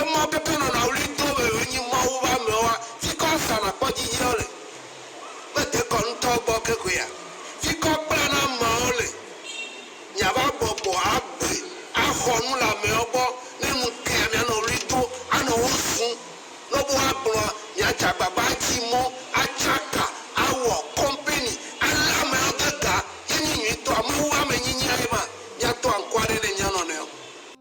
Emɔ ke ke nɔna ɣli do be yewonyi Mawu be amewoa, fikɔ asa nakpɔ dzidzi ɖe wo le. Mede kɔ ŋtɔ gbɔ ke koea? Fikɔ kpla na ameawo le. Miava bɔbɔ agbe axɔ nu le ameawo gbɔ. Ne nu tea mianɔ ɣli do anɔ wo zun. Ne wobe woagblɔa, miadze agbagba atsi mɔ, atsa ka, awɔ kɔmpeni, alé ameawo de ga. Ye nyi nyuitɔa. Mawu be amenyinyia ye ma. Miatɔ ankuaɖe ne mianɔnɔewo.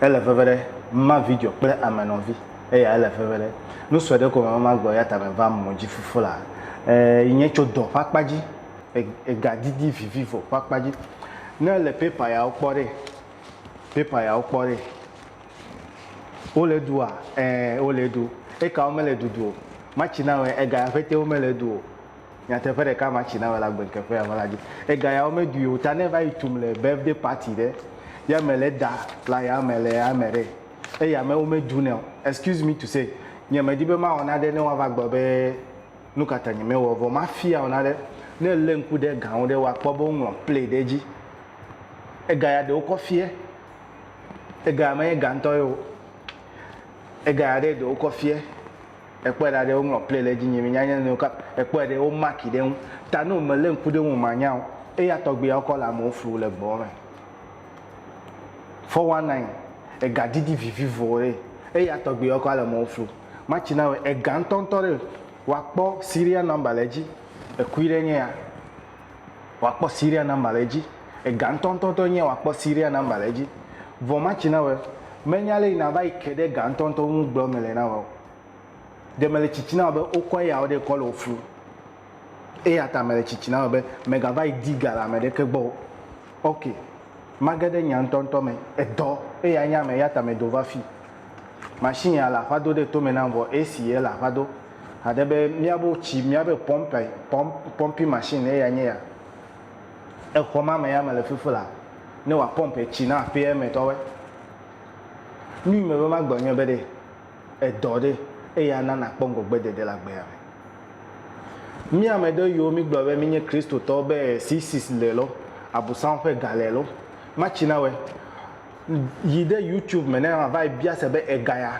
Ele veve ɖe ma vidzɔ kple ame nɔvi. Eya ele veve ɖe. Nu sue ɖe ko me ma gbɔ yata me va mɔ dzi fufu la. E yi nye tso dɔ ƒe akpa dzi. E ega didi vivi vɔ ƒe akpa dzi. Ne le paper ya wo kpɔ ɖe, paper ya wo kpɔ ɖe. Wo le ɖu a? E wo le ɖu. Eka wo me le ɖuɖu o. Matsi na wɔ ega ya ƒete wo me le ɖu o. Nyateƒe ɖeka ma tsi na wela gbeŋkeƒe ya me la dzi. Ega yawo me dui o ta ne va yi tum le birthday party ɖe ya me le da la ya me le ya me ɖe eya me wo me du nɛ o. Excuse me to say nye me di be ma wɔ naɖe ne woa va gblɔ be nukata nye me wɔ vɔ ma fia wɔ naɖe ne le ŋku ɖe ga ŋu ɖe wa kpɔ be wo ŋlɔ play ɖe dzi. Ega ya ɖewo kɔ fie. Ega ya me nye ga ŋtɔ ye o. Ega ya ɖe ɖewo kɔ fie. Ekpɔe ɖa ɖe woŋlɔ play ɖe edzi nye menya nye nɔnɔewo kap ekpɔe ɖe wo marki ɖe eŋu ta no me le ŋku ɖe eŋu manya o eya tɔgbiawo kɔ le amewo flu le gbɔwo me 419 ega didi vivivo ɖe eya tɔgbiawo kɔ ale amewo flu matsi na wɔ ega ŋtɔŋtɔ ɖe wa kpɔ serial number le edzi ekui ɖe nye ya. woakpɔ serial number le edzi. Ega ŋutɔ ŋutɔ ŋutɔ enye woakpɔ serial number le edzi. Vɔ matsi na wɔ, menya lé yi nàva yi ke ɖe ega ŋutɔ ŋutɔ ŋu gblɔ mele na wɔ o. Ɖe mele tsitsi na wɔ be wokɔ eya wo ɖe kɔ le wo flum. Eya ta mele tsitsi na wɔ be mègava yi di ga le ame ɖeke gbɔ o. Ok, mage ɖe nya ŋutɔ ŋutɔ me. Edɔ eyae nye ame eya ta medo va fii. Machine ya le aƒa do ɖe tome nam vɔ AC ye le aƒa do. Haɖe be míabe tsi, míabe pɔmpe, pɔmp, pɔmpi machine ye ya nye ya. Exɔ ma me ya mele fifi la, ne wòa pɔmpe tsi na aƒea me tɔwoe. Nui me be magblɔ nye be ɖe edɔ ɖe eya na nàkpɔ ŋgɔgbe dede le agbea me. Mí ame ɖe yiwo mí gblɔ be mí nye Kristotɔwo be si sis le lɔ, abusam ƒe ga le lɔ, matsi na wɔe. Yi ɖe YouTube me ne ma va yi bia se be ega ya.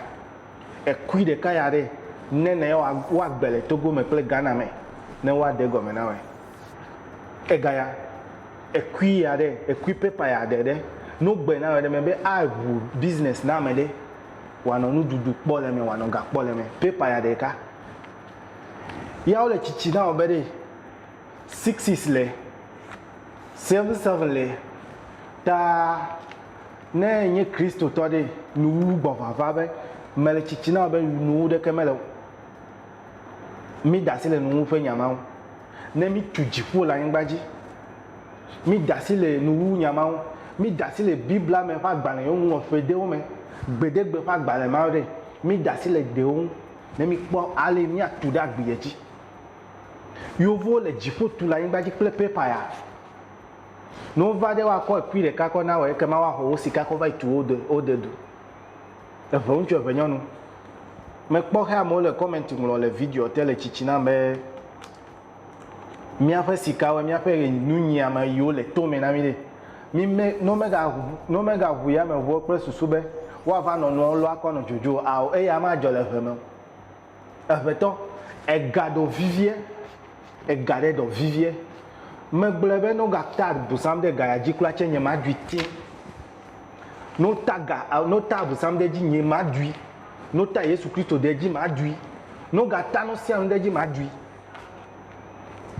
Ekui ɖeka ya ɖe, ne ne yewoa, woagbe le Togo me kple Ghana me, ne woaɖe egɔme na wòe. Egaya, ekui ya ɖe, ekui paper ya ɖe ɖe, ne wogbe na wòe ɖe me be aʋu business na ame ɖe, wòanɔ nuɖuɖu kpɔ le eme, wòanɔ ga kpɔ le eme. Paper ya ɖeka. Ya wole tsitsi na wò be ɖe. six six le, seven seven le, ta ne enye Kristotɔ ɖe, nuwuwu gbɔ vava be mele tsitsi na be nuwu ɖeke mele o. Mi da asi le nuwuwu ƒe nya ma ŋu. Ne mi tu dziƒo le anyigba dzi, mi da asi le nuwuwu nya ma ŋu. Mi da asi le Biblia me ƒe agbalẽ yewo ŋlɔ ƒe ɖewo me, gbeɖegbe ƒe agbalẽ ma ɖe, mi da asi le ɖewo ŋu ne mi kpɔ ale mia tu ɖe agbi dzi. Yeovo le dziƒo tu le anyigba dzi kple pepa ya. Ne wova ɖe woakɔ ekui ɖeka kɔ na wɔ ekema woaxɔ wo sika kɔ va yi tu wode wode du. Eve ŋutsu eve nyɔnu. Mekpɔ xe amewo le comment ŋlɔ le video te le tsitsi nam be míaƒe sikawoe míaƒe ɣe nu nyiame yiwo le to me na mí ɖe. Mí me ne womega ne womega ŋu yameŋuwo kple susu be woava nɔ nuawo lɔ akɔ nɔ dzodzo o ao eya madzɔ le ʋe me o. Evetɔ, ega ɖɔ vivie, ega ɖe ɖɔ vivie. Megblɔe be ne wogata agu zãm ɖe ega ya dzi kura tse nye maɖui ti. Ne wota ga, ne wota agu zãm ɖe edzi nye maɖui. Ne wota Yesu Kristo ɖe edzi maɖui. Ne wogata nu sia nu ɖe edzi maɖui.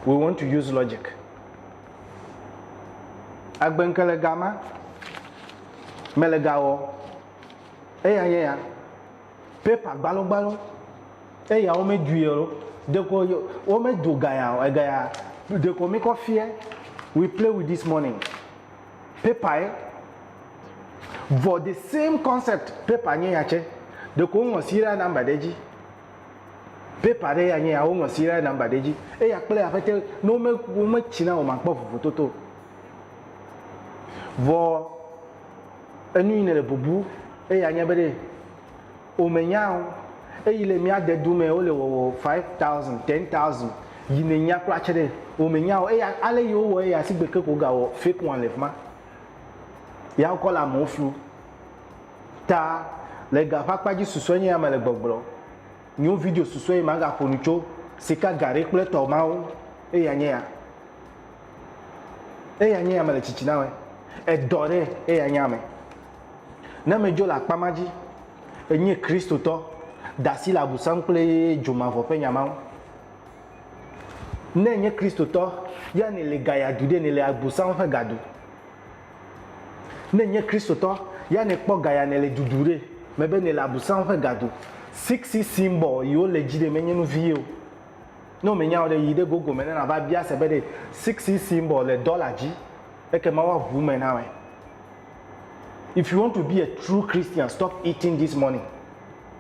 We want to use logic. Agbenke le gama, mele ga wɔ, eya nye ya. paper gbalɔgbalɔ eya wo me dui eo ɖeko yo wo me do gaya o egaya ɖeko mi kɔ fiɛ we play with this morning paper ye vɔ the same concept paper nye ya tse ɖeko wo ŋlɔ serial number ɖe dzi paper ɖe ya nye ya wo ŋlɔ serial number ɖe dzi eya kple aƒete ne wo me wo me tsi na o ma kpɔ vovototo o vɔ. Enu yi nèle bubu eya nye be ɖe womenya o. Eyi le mía dedu me wole wɔwɔ five thousand, ten thousand yi nènya kpla tse ɖe womenya o. Eya ale yi wowɔ eya sigbe ke ko wogawɔ fake one le fi ma. Ya wokɔ le amewo flu. Ta le ga ƒe akpa dzi susɔe nye ya mele gbɔgblɔ. Nyo video susɔe yi magaƒo nu tso sika ga ɖe kple etɔ mawo eya nye ya. eya nye ame le tsitsi na me edɔ ɖe eya nye ame ne medzo le akpa ma dzi enye kristotɔ dasi le abusam kple dzomavɔ ƒe nya mawo ne enye kristotɔ ya ne le ga yadu ɖe ne le abusam ƒe gadu ne enye kristotɔ ya ne kpɔ ga ya ne le dudu ɖe mebe ne le abusam ƒe gadu six symbol yiwo le dzi ɖe menye nu vie o Ne wòmenya o ɖe, yi ɖe Google me ne nàva bia se be ɖe sixi symbol le dɔla dzi, ekema woaŋu eme na wòe. If you want to be a true Christian, stop eating this money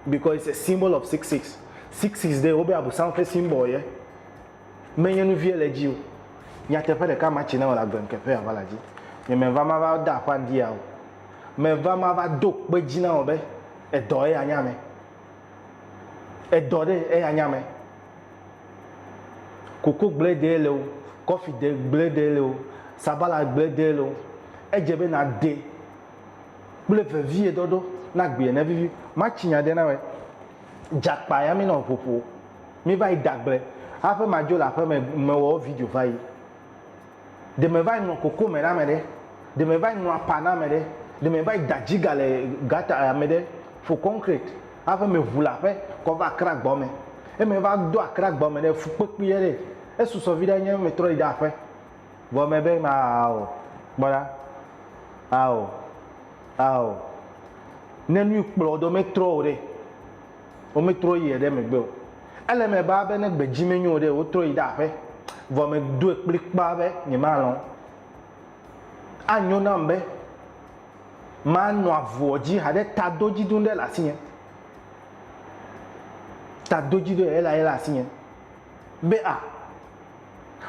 because it's a symbol of six six. Six six ɖe, wobe Abosam ƒe symbol ye. Menye nu vie le edzi o. Nyateƒe ɖeka ma tsi ne wòle agble ŋke ƒe aʋala dzi. Nye meva mava da aƒa ŋdi ya o. Meva mava do kpe dzi na wò be edɔ ye anya me. Edɔ ɖe eya nya me. Koko gble ɖee le o, kɔfi ɖe gble ɖee le o, sabala gble ɖee le o, edze be nàɖe kple vevieɖɔɖɔ ne agbeɛ navivi. Matsi nya ɖe na wòe. Dze akpa ya míenɔ ŋu ƒo. Míva yi da gble. Haƒe madzo le aƒeme, mewɔ wo video va yi. Ɖe meva yi ŋlɔ koko me ɖe ame ɖe? Ɖe meva yi ŋlɔ apa na ame ɖe? Ɖe meva yi da dziga le gata ame ɖe fo kɔnkrɛti hafi meʋu le aƒe kɔ va Akra gbɔ me? Ɖe meva do Akra gbɔ me ɖe fukpekpui ye ɖe? Esusɔ viɖe nye metrɔ yi ɖe aƒe. Vɔ mebe ao, kpɔ ɖa, ao, ao, ne nui kplɔ wò ɖo metrɔ o ɖe? Wometrɔ yi eɖe megbe o. Ele eme baa be ne gbedzi menyo o ɖe, wotrɔ yi ɖe aƒe. Vɔ medoe kplikpaa be nyemalɔ̃. Anyo nam be manɔ avuɔ dzi haɖe tadodzidonu ɖe le asinye. Tadodzidonu ɖe lae le asinye. Be a,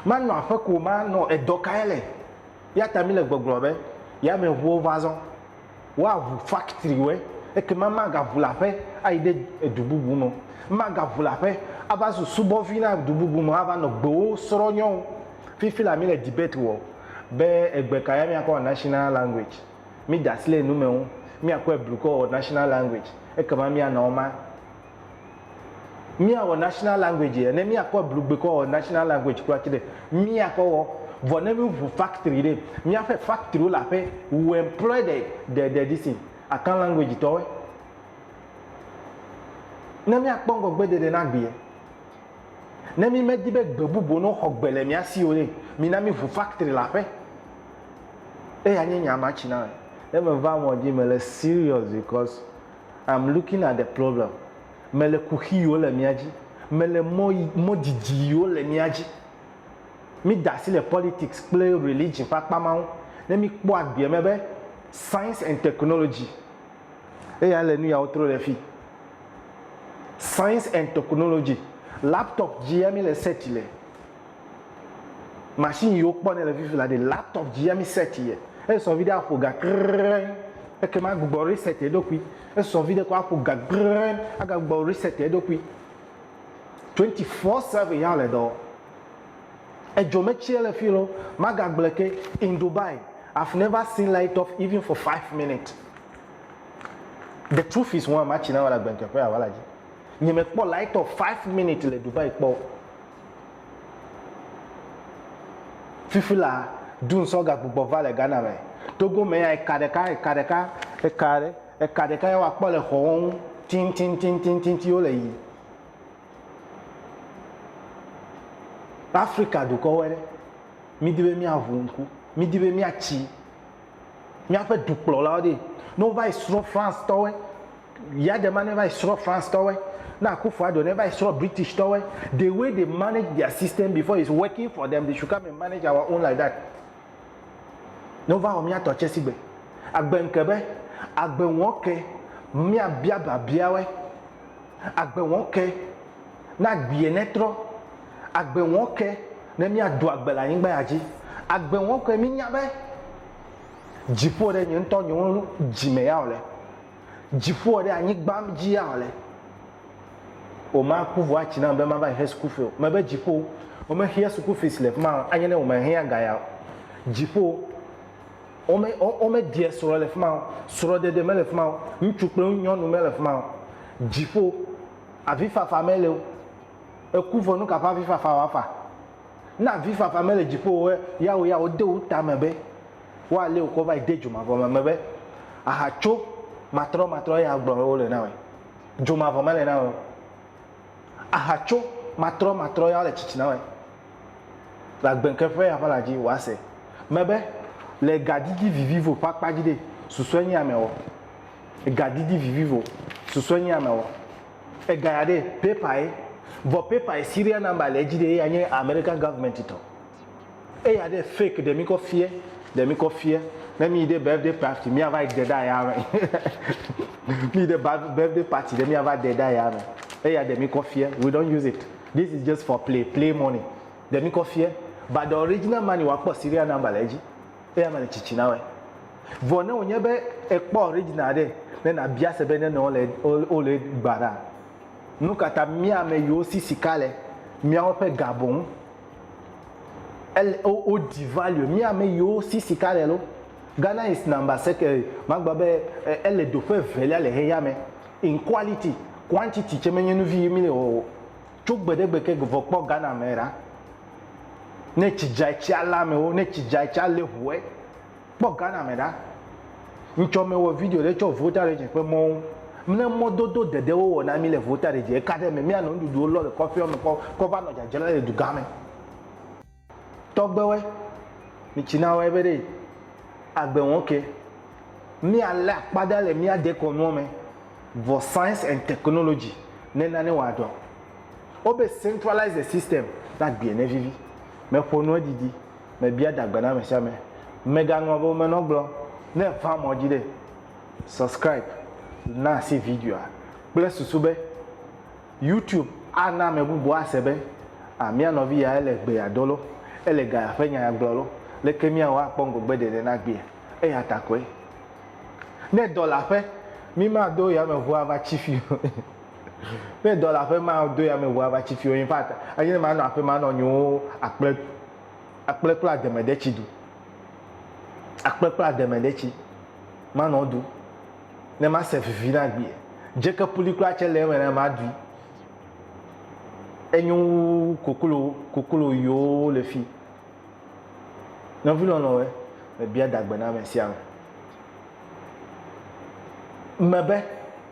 manɔ aƒe ko manɔ edɔ kae le? Eyata mile gbɔgblɔ be, Yameʋuwo va zɔ. Woaʋu faktriwɔe, ekema magaʋu le aƒe ayi ɖe edu bubu me o. Magaʋu le aƒe ava zu subɔvi na du bubu me ava nɔ gbewo srɔ nyɔwo. Fifi la mi le debate wɔ be egbe ka ya miakɔ wɔ national language. Mi da asi le enu me ŋu. Miakɔe blu kɔ wɔ national language ekema mianɔ ema. Míawɔ national language ye, ne míakɔ eblu gbe kɔ wɔ national language kura tsi ɖe, míakɔ wɔ. Vɔ ne míŋu factory ɖe, míaƒe factory wo le aƒe, we employ the, the, the this thing, Akan language tɔ woe. Ne míakpɔ ŋgɔgbe ɖeɖe na gbe ye. Ne mí me di be gbe bubu ne woxɔ gbe le mía si o ɖe, mi na míŋu factory le aƒe. Eya nye nya ma tsi na me. Ne me va mɔ dzi, me le serious because. I'm looking at the problem, mele kuxi yiwo le mía dzi, mele mɔ yi, mɔ didi yiwo le mía dzi. Mí da asi le politics kple religion ƒe akpa ma ŋu, ne mí kpɔ agbeɛ me be science and technology eya le nu yawo tro ɖe fii. Science and technology, laptop dzi ya mí le search le. machine yi wokpɔ ne le fifi la ɖe laptop dzi ami set ye esɔ vi ɖe aƒo ga krrrɛ eke ma gbugbɔ reset eɖokui esɔ vi ɖe kɔ aƒo ga krrrɛ aga gbugbɔ reset eɖokui 24/7 ya le dɔ edzo me tsi ele fi lo maga gblɔ ke in dubai i've never seen light off even for five minutes the truth is one matsi na wala gbɛntɛƒe ya wala dzi nye me kpɔ light off five minutes le dubai kpɔ Fifi la, Dun sɔ gagbugbɔ va le Ghana me. Togo me ya, eka ɖeka, eka ɖeka, eka ɖe, eka ɖeka ye woakpɔ le xɔwo ŋu tintintintintiti wo le yi. Afrika dukɔwoe ɖe, mí di be mía ŋu ŋku, mí di be mía tsi. míaƒe dukplɔlawo ɖi. Ne wova yi srɔ̃ France tɔwoe, Yade ma ne va yi srɔ̃ France tɔwoe, ne Akuffo Addo ne va yi srɔ̃ British tɔwoe, the way they manage their system before is working for them, they should come and manage our own like that. Ne wova wɔ mía tɔ tse sigbe. Agbe ŋke be, agbe wɔke míabia biabiawoe. Agbe wɔke. na agbee netrɔ. Agbe wɔɔ ke ne míado agbe le anyigba ya dzi. Agbe wɔɔ ke mínya be dziƒo ɖe nye ŋutɔ nye wo dzi me ya wòle. Dziƒo ɖe anyigba dzi ya wòle. Wò maku vɔ atsi nam be mava yi xe suku fee o. Mebe dziƒo wo me xea suku fees le fima o anye ne wò me xe aga ya o. Dziƒo wo me wo me ɖia srɔ le fima o. Srɔ ɖeɖe me le fima o. Ŋutsu kple nyɔnu me le fima o. Dziƒo. Avifafa mele o. Eku vɔ nuka ƒe avifafa wòafa? Ne avifafa mele dziƒo o ya wò ya wòde wò ta me be woalé wò kɔ va yi de dzomavɔ me be aha tso matrɔmatrɔ eye agblɔ be wole na wòe. Dzomavɔ mele na wòe o. Aha tso matrɔmatrɔ ya wole tsitsi na wòe. Le agbɛnke ƒe ya ƒe la dzi wòase me be le gadidi vivivo ƒe akpa dzi ɖe susɔe nye amewɔ. Ega didi vivi vɔ susɔe nye ame wɔ ega ya ɖe paper ye vɔ paper ye serial number le edzi ɖe eya nye American government tɔ eya ɖe fake ɖe mi kɔ fiɛ ɖe mi kɔ fiɛ ne mi yi ɖe birthday party mi ava yi de ɖe aya me mi yi ɖe birthday party ɖe mi ava de ɖe aya me eya ɖe mi kɔ fiɛ we don't use it this is just for play play money ɖe mi kɔ fiɛ but the original money wa kpɔ serial number le edzi. Eya mele tsitsi na wɔe. Vɔ ne wònye be èkpɔ original ɖe, ne nàbia se be nene wole wole gba ɖa. Nu ka ta mía ame yiwo si sika le míawo ƒe ga boŋ ele wo wo di value mía ame yiwo si sika le lo? Ghana is number sec eh, magblɔ be eh, ele doƒe evelia le xexeame in quality, quantity tsɛ menye nu vi yi mí le wɔwɔ o. Tso gbeɖegbe ke vɔ kpɔ Ghana me ɖa. Ne tsi dza tsi alé amewo, ne tsi dza tsi alé ŋue. Kpɔ Ghana me ɖa. Ŋtsɔ mewɔ video ɖe tsɔ Volta Region ƒe mɔwo. Ne mɔdodo dede wo wɔ na mí le Volta Region eka ɖe eme míanɔ nuɖuɖuwo lɔ le kɔƒeawo me kɔ kɔ va nɔ dzadzra le dugã me. Tɔgbewe, mi tsi na wɔ ebe ɖe agbe wɔn ke míalé akpa ɖa le mía dekɔnuɔ me vɔ Science and Technology ne nane wɔa dɔ. Wobe centralize the system, ne agbee ne vivi. Me ƒo nua didi, me bia da gbe na ame sia ame. Me ga nua be me nɔ gblɔ, ne efa mɔ dzi ɖe, subscribe, na asi videoa kple susu be YouTube a na ame bubu a se be, ah mía nɔvi ya ele gbe ya do lo, ele ga ya ƒe nya ya gblɔ lo, leke mía wɔ akpɔ ŋgɔgbe ɖeɖe na agbea? Eya ta koe. Ne dɔ le aƒe, mi ma do yame ŋu a va tsi fi o. Ne dɔ le aƒe ma do ya me ʋua va tsi fio in fact enye ma nɔ aƒe ma nɔ nyiwo akple akple kple ademe ɖe tsi du akple kple ademe ɖe tsi ma nɔ du ne ma se vivi na gbie dzeke puli kura tse le eme na ma dui enyo wu koklo koklo yiwo le fi nɔvi lɔlɔ̃we mebia dagbe na ame sia ame mebe